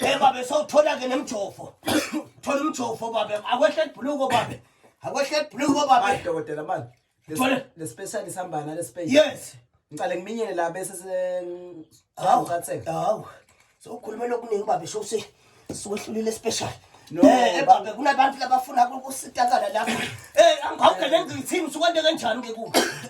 Eh babe sawuthola ke nemjovo. Thola umjovo babe. Akwehle ibhuluko babe. Akwehle ibhuluko babe. Hayi dokotela manje. Thole. Le special isihamba nale space. Yes. Ngicale ngiminyene la bese se Hawu. Ucatheka. Hawu. Sokhuluma lokuningi babe shose siwehlulile special. No, Eh eh, babe kunabantu labafuna ukusitakala lapha. Eh angawukele ngithini usukwande kanjani ke ku.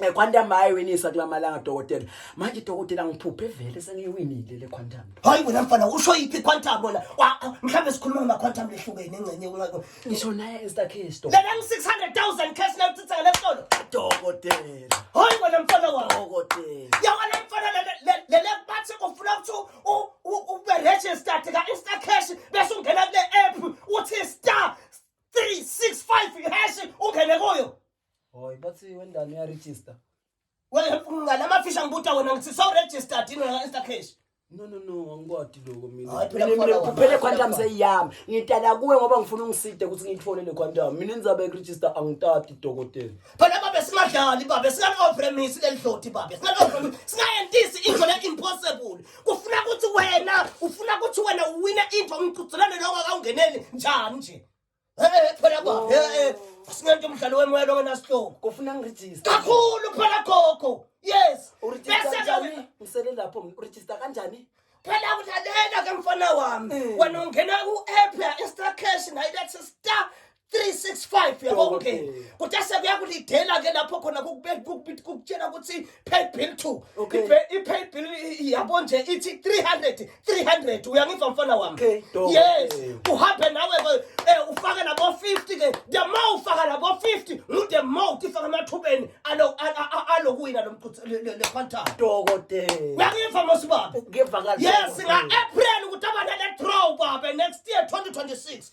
Eh, Quantum hayi winisa kula malanga dokotela. Manje dokotela ngiphuphe vele sengiwinile le Quantum. Hayi wena mfana usho yiphi quantum wena? Wa- ah, Mhlawumbe sikhuluma ngama quantum lehlukene engcenye kunga- Ngisho naye is the case dokotela. Lena ngi 600,000 cash nayo tsitsa le solo. Dokotela. Hayi wena mfana wami. Dokotela. Ya wena mfana le le le le bathi kufuna ukuthi u- u- u- ube registered ka Insta cash bese ungena kule app uthi star 365 hash ungene kuyo. Hoy bathi wendani uya register. Wena mngane amafisha ngibuta wena ngithi so registered yini wena insta cash. No no no angikwadi lokho mina. Hayi phela Mina mina kukhona kuphele wena. quantum seyiyami ngitala kuwe ngoba ngifuna ungiside ukuthi ngiyithole le quantum mina indzaba yokuregister angitati dokotela Phela babe singadlali babe singane opremisi lelidloti babe singane opremisi singayentisi into le impossible. Kufuna ukuthi wena ufuna ukuthi wena uwine into ngigcugculane lokho akawungeneli njani nje. Hey, phela kwa. Oh. Hey, singento umdlalo wemoya lo ngenasihlobo. Kofuna ngiregister. Kakhulu phela gogo. Yes. Uregister kanjani? Ngisele lapho ngiregister kanjani? phela kudlalela ke mfana wami mm. wena ungena ku-app ya-instacash ngayilethe star 365 yabo ungena kuthi asekuyakulidela ke lapho khona kukutshela ukuthi paid bill two Okay. Ipe- i-paid bill i- i- yabo nje ithi 300 300 uyangizwa mfana wami Okay, dope. yes Eh. uhambe nawe ke eh, ufake nabo-50 ke the more ufaka nabo-50 ngude more uthi faka emathubeni alo- a- a- a- alokuwina lo mqhuthi- le- le- le quantum dokotela uyangiva mosibaba ngiyevakala yes nga-april ukuthi abanale draw babe next year 2026